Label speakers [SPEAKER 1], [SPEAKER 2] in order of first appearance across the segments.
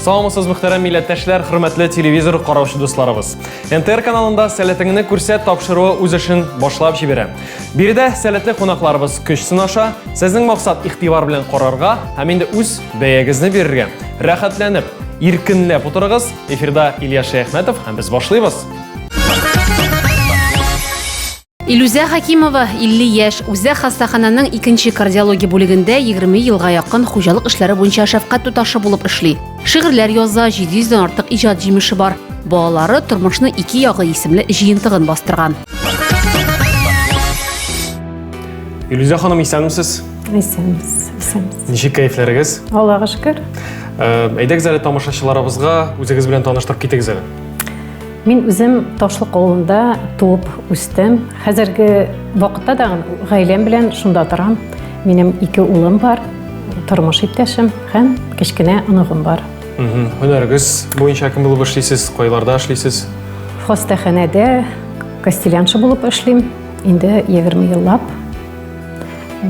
[SPEAKER 1] Саламсыз мөхтәрәм милләттәшләр, хөрмәтле телевизор караучы дусларыбыз. НТР каналында сәләтеңне күрсәт тапшыруы үз эшен башлап җибәрә. Биредә сәләтле кунакларыбыз көч сынаша, сезнең максат игътибар белән карарга һәм инде үз Бәягезне бирергә. Рәхәтләнеп, иркенләп утырыгыз. Эфирда Илья Шәяхмәтов һәм без башлыйбыз.
[SPEAKER 2] Илүзә Хакимова 50 яшь, үзе хастахананың икенче кардиология бүлегендә 20 елга якын хуҗалык эшләре буенча шәфкать туташы булып эшли. Шигырьләр яза, 700 дән артык иҗат җимеше бар. Балалары тормышны ике ягы исемле җыентыгын бастырган.
[SPEAKER 1] Илүзә ханым, исәнмесез? Исәнбез, исәнбез.
[SPEAKER 3] Ничек
[SPEAKER 1] кәефләрегез? Аллага шөкер.
[SPEAKER 3] Э, әйдәгез
[SPEAKER 1] әле тамашачыларыбызга үзегез белән таныштырып китегез әле. Мин
[SPEAKER 3] үзем Ташлык авылында туып үстем. Хәзерге вакытта да гаиләм белән шунда торам. Минем ике улым бар, тормыш иптәшем һәм кечкенә оныгым бар. Һөнәрегез
[SPEAKER 1] буенча кем булып эшлисез, кайларда эшлисез? Хастаханәдә
[SPEAKER 3] костеляншы булып эшлим. Инде 20 еллап.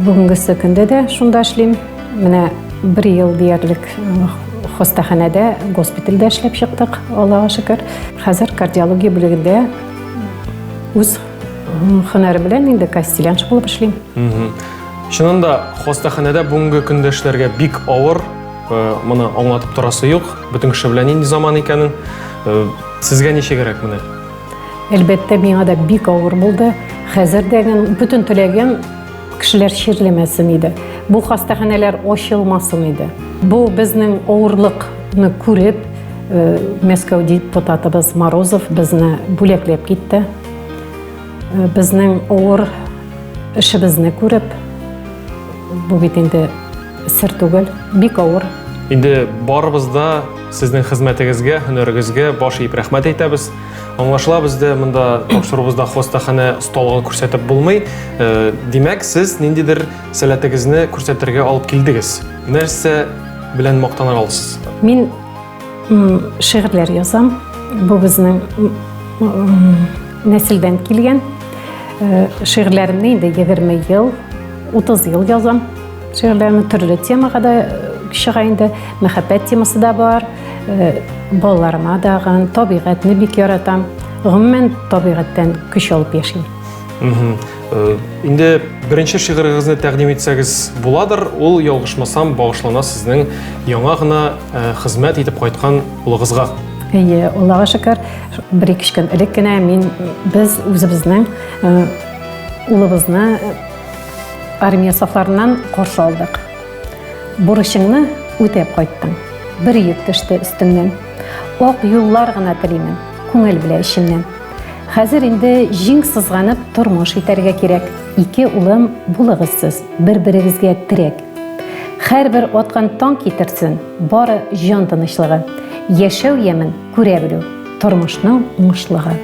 [SPEAKER 3] Бүгенгесе көндә дә шунда эшлим. Менә бер ел диярлек хастаханәдә, госпитальдә эшләп чыктык, Аллага шөкер. Хәзер кардиология бүлегендә үз һөнәре белән инде кастеляншы булып эшлим. Чынында
[SPEAKER 1] да, хастаханәдә бүгенге көндә эшләргә бик авыр. Э, моны аңлатып торасы юк. Бөтен кеше белән нинди заман икәнен. Э, сезгә ничегрәк менә? Әлбәттә,
[SPEAKER 3] миңа да бик авыр булды. Хәзер дә бүтән теләгем кешеләр чирлемәсен иде. Бу хастаханәләр ачылмасын иде. Бу безнең авырлыкны күреп, э, Мәскәү депутатыбыз Морозов безне бүләкләп китте. Э, безнең авыр эшебезне күреп, бу бит инде Сер түгел, бик авыр. Инде
[SPEAKER 1] барыбыз да сезнең хезмәтегезгә, һөнәрегезгә баш иеп рәхмәт әйтәбез. Аңлашыла бездә монда тапшырубызда хастаханә осталыгы күрсәтеп булмый. Э, димәк, сез ниндидер сәләтегезне күрсәтергә алып килдегез. Нәрсә белән мактана аласыз? Мин
[SPEAKER 3] шигырьләр язам. Бу безнең нәселдән килгән. Э, шигырьләремне инде 20 ел, 30 ел язам. Шигырьләрем төрле темага да чыга инде. Мәхәббәт темасы да бар. Э, балаларыма дагын, табигатьне бик яратам. Гомумән, табигатьтән көч алып яшим. Э, инде
[SPEAKER 1] беренче шигырегезне тәкъдим итсәгез буладыр. Ул ялгышмасам багышлана сезнең яңа гына э, хезмәт итеп кайткан улыгызга. Әйе, Аллага
[SPEAKER 3] шөкер, бер ике көн элек кенә мин без үзебезнең улыбызны Армия сафларыннан каршы алдык. Бурычыңны үтәп кайттың. Бер йөк төште өстеңнән. Ак юллар гына телимен, күңел белә эчемнән. Хәзер инде җиң сызганып тормыш итәргә кирәк. Ике улым булыгыз сез, бер-берегезгә терәк. Хәрбер аткан таң китерсен бары җан тынычлыгы. Яшәү ямен күрә белү. Тормышның уңышлыгы.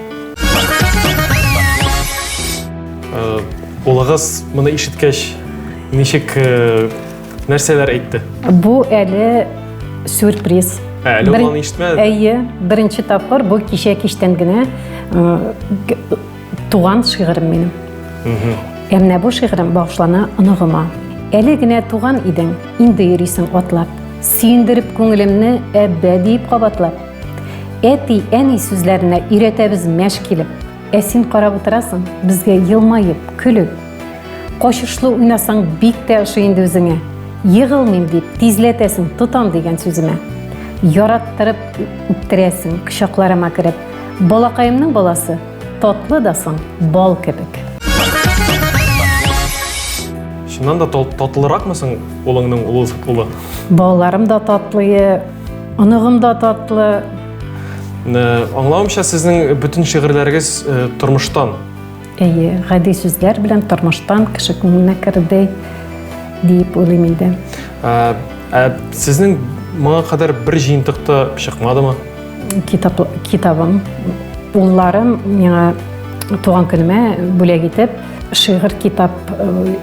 [SPEAKER 1] Улыгыз моны ишеткәч, ничек нәрсәләр әйтте? Бу әле
[SPEAKER 3] сюрприз. Әле ул аны
[SPEAKER 1] ишетмәде. Әйе, беренче
[SPEAKER 3] тапкыр бу кичә кичтән генә туган шигырем минем. Ә менә бу шигырем багышлана оныгыма. Әле генә туган идең, инде йөрисең атлап. Сөендереп күңелемне әббә диеп кабатлап. Әти, әни сүзләренә өйрәтәбез мәш килеп. Ә син карап утырасың, безгә елмаеп, көлеп. Качышлы уйнасаң бик тә ошый инде үзеңә. Егылмыйм дип, тизләтәсең, тотам дигән сүземә. Яраттырып үптерәсең, кочакларыма кереп. Балакаемның баласы, татлы да соң, бал кебек.
[SPEAKER 1] Чыннан да татлыракмы соң улыңның улы? Балаларым да
[SPEAKER 3] татлые, Оныгым да татлы. Э,
[SPEAKER 1] аңлавымча, сезнең бөтен шигырьләрегез э, тормыштан. Әйе,
[SPEAKER 3] гади сүзләр белән тормыштан кеше күңеленә керде диеп уйлыйм инде. Ә, ә
[SPEAKER 1] сезнең моңа кадәр бер җыентыкта чыкмадымы? Китап,
[SPEAKER 3] китабым, улларым миңа туган көнемә бүләк итеп, шигырь китап э,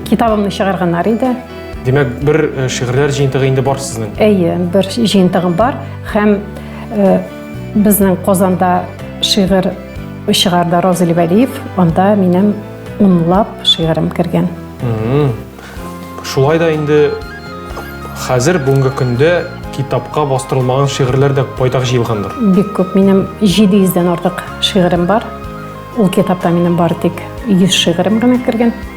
[SPEAKER 3] китабымны чыгарганнар иде. Димәк, бер
[SPEAKER 1] э, шигырьләр җыентыгы инде бар сезнең. Әйе, бер
[SPEAKER 3] җыентыгым бар һәм
[SPEAKER 1] э,
[SPEAKER 3] безнең Казанда шигырь чыгарды Роза Левәлиев, анда минем унлап шигырем кергән. Шулай
[SPEAKER 1] да инде хәзер бүгенге көндә китапка бастырылмаган шигырьләр дә байтак җыелгандыр. Бик күп. Минем
[SPEAKER 3] 700 дән артык шигырем бар. Ул китапта минем бар тик 100 шигырем генә кергән.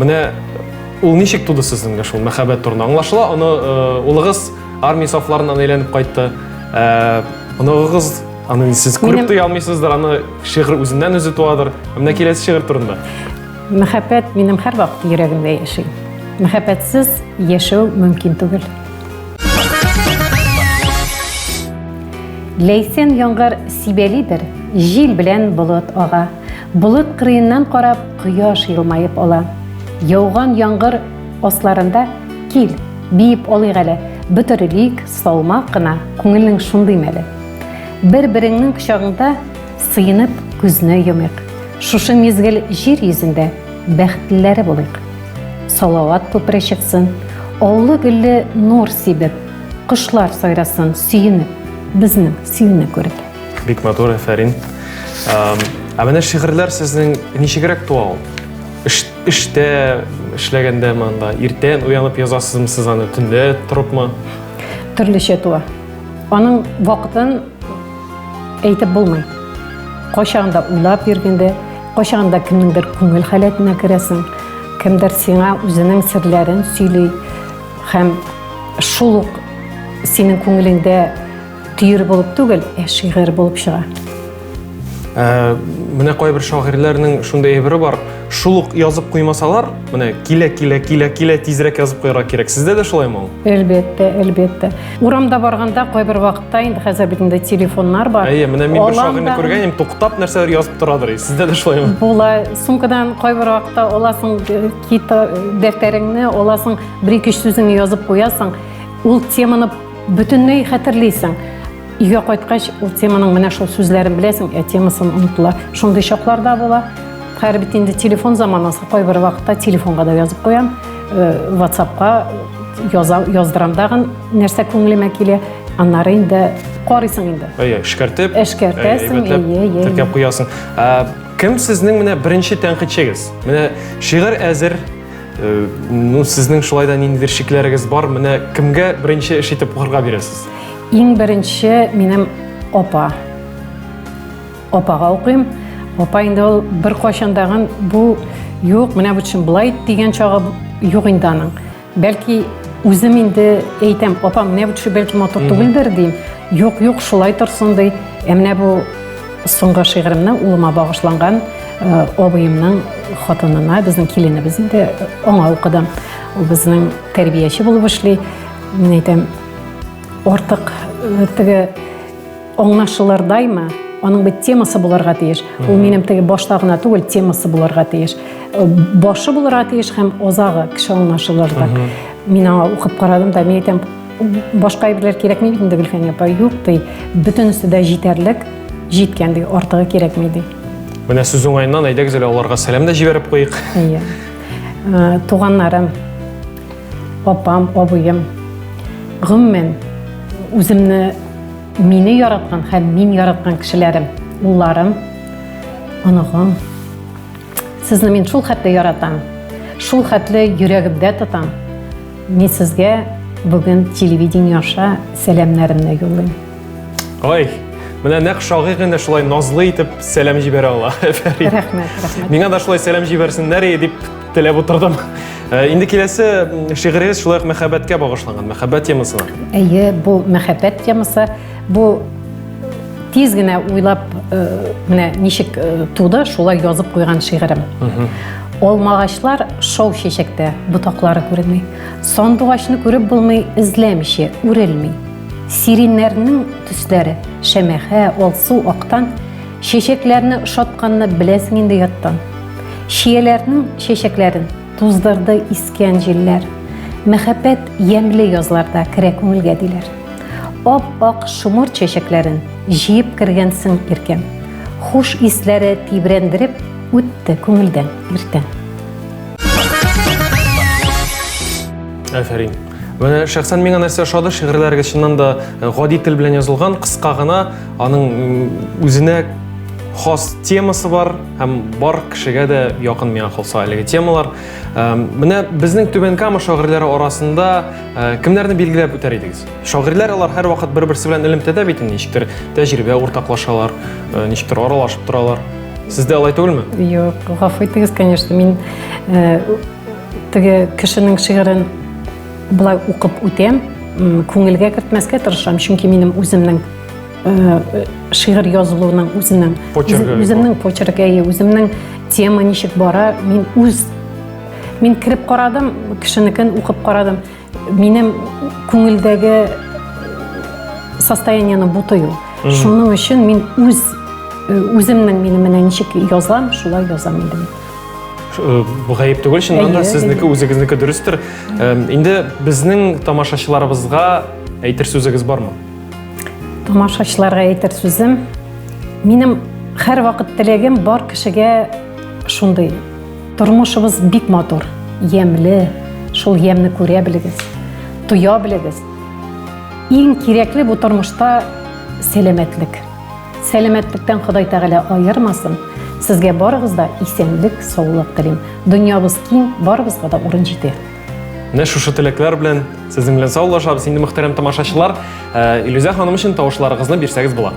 [SPEAKER 1] Менә ул ничек туды сезнеңдә шул мәхәббәт турында? Аңлашыла, аны э, улыгыз армия сафларыннан әйләнеп кайтты. Э, Оныгыгыз аны сез күреп туя алмыйсыздыр, аны шигырь үзеннән үзе туадыр. Менә киләсе шигырь турында. Мәхәббәт
[SPEAKER 3] минем һәр вакыт йөрәгемдә яши. Мәхәббәтсез яшәү мөмкин түгел. Ләйсән яңгыр сибәлидер, җил белән болыт ага. Болыт кырыеннан карап, кояш елмаеп ала. Яуган яңгыр асларында кил, биеп алыйк әле, бөтерелик, салмак кына, күңелнең шундый мәле. Бер-береңнең кочагыңда сыенып күзне йомыйк. Шушы мизгел җир йөзендә бәхетлеләре булыйк. Салават күпере чыксын, оллы гөлле нур сибеп, кошлар сайрасын сөенеп, безнең сөюне күреп. Бик матур,
[SPEAKER 1] әфәрин. Ә менә шигырьләр сезнең ничегрәк туа ул? Эштә эшләгәндә монда иртән уянып язасызмы сез аны, төнлә торыпмы? Төрлечә
[SPEAKER 3] туа. Аның вакытын әйтеп булмый. Кайчагында уйлап йөргәндә, кайчагында кемнеңдер күңел халәтенә керәсең, кемдер сиңа үзенең серләрен сөйли һәм шул ук синең күңелеңдә Төер булып түгел, ә шигырь булып чыга. Ә,
[SPEAKER 1] менә кайбер шагыйрьләрнең шундый әйбере бар. Шул ук язып куймасалар, менә килә, килә, килә, килә тизрәк язып куярга кирәк. Сездә дә шулай ул? Әлбәттә, әлбәттә.
[SPEAKER 3] Урамда барганда кайбер вакытта инде хәзер бит инде телефоннар бар. Әйе, менә мин бер шагыйрьне
[SPEAKER 1] күргән идем, туктап нәрсәләр язып торадыр. Сездә дә шулаймы? Була. Сумкадан
[SPEAKER 3] кайбер вакытта аласың э, китап э, дәфтәреңне, аласың, бер-ике сүзеңне язып куясың. Ул теманы Бөтенләй хәтерлисең. Өйгә кайткач, ул теманың менә шул сүзләрен беләсең, ә темасын онытыла. Шундый чаклар да була. Хәер бит инде телефон заманасы, кайбер вакытта телефонга да язып куям, э, WhatsAppка яза, яздырам дагын, нәрсә күңелемә килә, аннары инде карыйсың инде. Әйе, эшкәртеп, Эшкәртәсең, әйбәтләп әйе, әйе, теркәп әйе.
[SPEAKER 1] куясың. Ә, кем сезнең менә беренче тәнкыйтьчегез? Менә шигырь әзер, Э, ну, сезнең шулай да нинди шикләрегез бар? Менә кемгә беренче эш итеп укырга бирәсез? Иң беренче
[SPEAKER 3] минем опа. Опага укыйм. Опа инде ул бер кайчандагын бу юк, менә бу чын булай дигән чагы юк инде аның. Бәлки үзем инде әйтәм, опа, менә бу төшү бәлки матур түгелдер дим. Юк, юк, шулай торсын ди. Ә менә бу Соңгы шигыремнең улыма багышланган абыемның хатынына, безнең киленебез инде, аңа укыдым. Ул безнең тәрбияче булып эшли. Мин әйтәм, артык теге аңлашылырдаймы? Аның бит темасы булырга тиеш. Ул минем теге башта гына түгел, темасы булырга тиеш. Башы булырга тиеш һәм азагы кеше аңлашылырдай. Мин аңа укып карадым да, мин әйтәм, Башка әйберләр кирәкми бит инде Гөлфәния апа, юк ди. Бөтенесе дә җитәрлек, җиткән ди, артыгы кирәкми ди. Менә сүз уңаеннан
[SPEAKER 1] әйдәгез әле аларга сәлам дә җибәреп куйыйк. Иә. Ә, Туганнарым,
[SPEAKER 3] апам, абыем, гомумән үземне мине яраткан һәм мин яраткан кешеләрем, улларым, оныгым, Сезне мин шул хәтле яратам, шул хәтле йөрәгемдә тотам. Мин сезгә бүген телевидение аша сәламнәремне юллыйм. Ой,
[SPEAKER 1] менә нәкъ шагыйрь генә шулай назлы итеп сәлам җибәрә ала. Фәрид. Рәхмәт, рәхмәт.
[SPEAKER 3] Миңа да шулай сәлам
[SPEAKER 1] җибәрсеннәр и дип теләп утырдым. Э, Инде киләсе м, шигырегез шулай ук мәхәббәткә багышланган, мәхәббәт темасына. Әйе, бу
[SPEAKER 3] мәхәббәт темасы. Бу тиз генә уйлап э, менә ничек э, туды шулай язып куйган шигырем алмагачлар шау чәчәктә ботаклары күренми сандугачны күреп булмый эзләмичә үрелми сиреннәрнең төсләре шәмәхә алсу актан чәчәкләрне ошатканны беләсең инде яттан чияләрнең чәчәкләрен Туздырды искән җилләр. Мәхәббәт ямьле язларда керә күңелгә диләр. Ап-ак шомыр чәчәкләрен җыеп кергәнсең иркәм. Хуш исләре тибрәндереп үтте күңелдән иртән.
[SPEAKER 1] Афәрин! Менә шәхсән миңа нәрсә ошады, шигырьләрегез чыннан да э, гади тел белән язылган, кыска гына, аның үзенә хас темасы бар һәм бар кешегә дә якын миңа калса әлеге темалар. Э, менә безнең Түбән Кама шагыйрьләре арасында э, кемнәрне билгеләп үтәр идегез? Шагыйрьләр алар һәрвакыт бер-берсе белән элемтәдә бит инде, ничектер тәҗрибә уртаклашалар, ничектер аралашып торалар. Сездә алай түгелме? Юк, гафу
[SPEAKER 3] итегез, конечно, мин Теге кешенең шигырен былай укып үтәм, күңелгә кертмәскә тырышам, чөнки минем үземнең шигырь язылуының үзенең үземнең почеркы, үземнең тема ничек бара, мин үз мин кереп карадым, кешенекен укып карадым. Минем күңелдәге состояниены бутыю. Шуның өчен мин үз үземнең мин менә ничек язам, шулай язам инде мин.
[SPEAKER 1] Бу гаеп түгел, чыннан да сезнеке үзегезнеке дөрестер. Инде безнең тамашачыларыбызга әйтер сүзегез бармы?
[SPEAKER 3] Тамашачыларга әйтер сүзем, минем һәр вакыт теләгем бар кешегә шундый Тормышыбыз бик матур, ямьле. Шул ямьне күрә белегез, тоя белегез. Иң кирәкле бу тормышта сәламәтлек. Сәламәтлектән Ходай Тәгалә аермасын. Сезгә барыгыз да исәнлек, саулык телим. Дөньябыз киң, барыбызга да урын җитә. Менә шушы
[SPEAKER 1] теләкләр белән сезнең белән саулашабыз инде мөхтәрәм тамашачылар. Э, Илүзә ханым өчен тавышларыгызны бирсәгез була.